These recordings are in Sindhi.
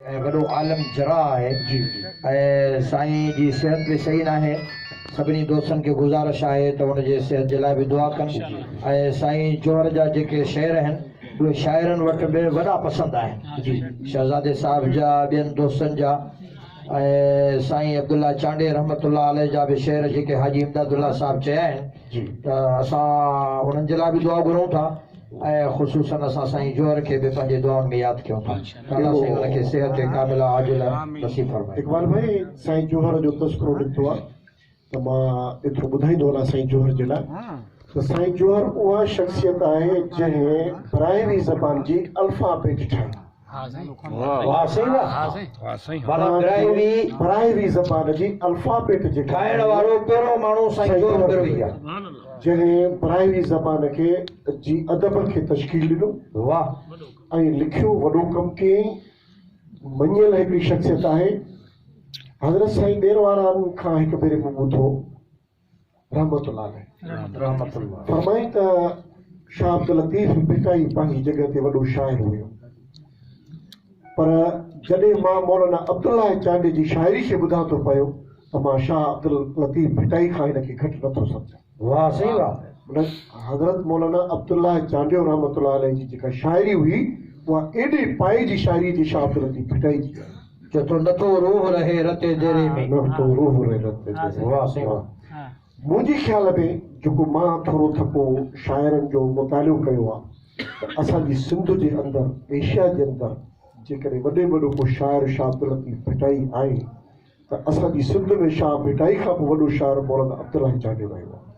۽ وڏو عالم جراح آهي ۽ سائين جي صحت به صحيح ناهي سڀني دوستن کي گذارش آهي ته ان جي صحت جي لاء به دعا ڪن ۽ سائين جوهر جا جيڪي شعر آهن اهي شاعرن وٽ به وڏا پسند آهن شهزادي صاحب جا ٻين دوستن جا ۽ سائين عبدالله چانڊئي رحمت الله عليه جا به شعر جيڪي حاجي امداد الله صاحب چيا آهن ته اسان انهن جي لاء به دعا گهرون ٿا. ۽ خصوصن اسان سائين جوهر کي به پنهنجي دعائن ۾ ياد ڪيون ٿا الله سائين ان کي صحت ڪامله عاجله نصيب فرمائي. اقبال ڀائي سائين جوهر جو تذڪرو نڪتو آ ته مان ايترو ٻڌائيندو هلاس سائين جوهر جي لاء ته سائين جوهر اها شخصيت آهي جنهن براهوي زبان جي الفا بيٽ ٺاهي. براهوي زبان جي الفابيٽ جي ٺاهڻ وارو پهريون ماڻهو سائين جوڌ بروهي آهي جنهن براهوي زبان کي جي ادب کي تشڪيل ڏنو ۽ لکيو وڏو ڪم ڪيائين مڃيل هڪڙي شخصيت آهي حضرت سائين ڏير واران کان هڪ ڀيري مون ٻڌو رحمة الله عليه فرمائي ته شاهه عبداللطيف ڀٽائي پنهنجي جڳهه تي وڏو شاعر هيو پر جڏهن مان مولانا عبدالله چانڊيي جي شاعري کي ٻڌان ٿو پيو ته مان شاهه عبداللطيف ڀٽائي کان هن کي گهٽ نٿو سمجهان. واهه سائين واهه. حضرت مولانا عبدالله چانڊيو رحمة الله عليه جي جيڪا شاعري هئي اها ايڏي پايي جي شاعري جي شاهه عبداللطيف ڀٽائي جي چئي ٿو نه تو روح رهي رتي ديري ۾. نه تو روح رهي رتي ديري ۾. واهه سي واهه. منهنجي خيال ۾ جيڪو مان ٿورو ٿڪو شاعرن جو مطالعو ڪيو آ ته اسان جي سنڌ جي اندر ايشيا جي اندر جيڪڏهن وڏي ۾ وڏو ڪو شاعر شاهه عبداللطيف ڀٽائي آهي ته اسان جي سنڌ ۾ شاهه ڀٽائي کان به وڏو شاعر مولنا عبدالله جانيو رهيو آ.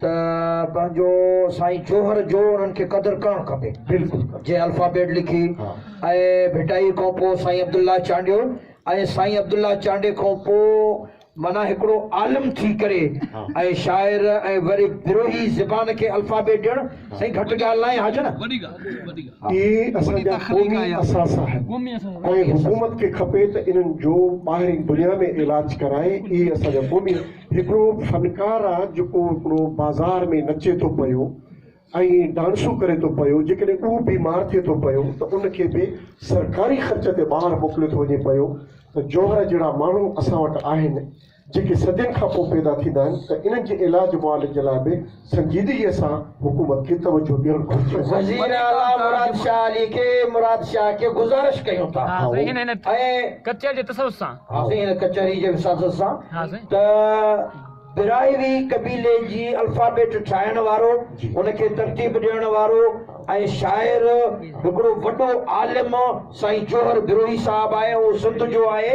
ته پنهنجو سائين جوهر جو انهن کي قدر ڪرڻ کپي. جنهن الفابيٽ لکي ۽ ڀٽائي کان پوء سائين عبدالله چانڊيو ۽ سائين عبدالله چانڊي کان پوء معنيٰ هڪڙو عالم ٿي ڪري ۽ شاعر ۽ وري بروهي زبان کي الفابيٽ ڏيڻ سائين گهٽ ڳالهه ناهي حاجن. اهي اسان جا قومي اثاثا آهن ۽ حڪومت کي کپي ته انهن جو ٻاهرين دنيا ۾ علاج ڪرائي اهي اسان جا قومي هڪڙو فنڪار آ جيڪو هڪڙو بازار ۾ نچي ٿو پيو ۽ ڊانسون ڪري ٿو پيو جيڪڏهن اهو بيمار ٿئي ٿو پيو ته ان کي به سرڪاري خرچ تي ٻاهر موڪليو ٿو وڃي پيو ته جوهر جهڙا ماڻهو اسان وٽ آهن جيڪي صدين کانپوء پيدا ٿيندا آهن ته انهن جي علاج معالج جي لاء به سنجيدگيء سان حڪومت کي توجهه ڏيڻ گهرجي. وزير اعليٰ مراد شاهه علي کي مراد شاهه کي گذارش ڪيون ٿا ۽ ڪچهري جي وساست سان ته براهوي قبيلي جي الفابيٽ ٺاهڻ وارو ان کي ترتيب ڏيڻ وارو ۽ شاعر هڪڙو وڏو عالم سائين جوهر بروهي صاحب آهي اهو سنڌ جو آهي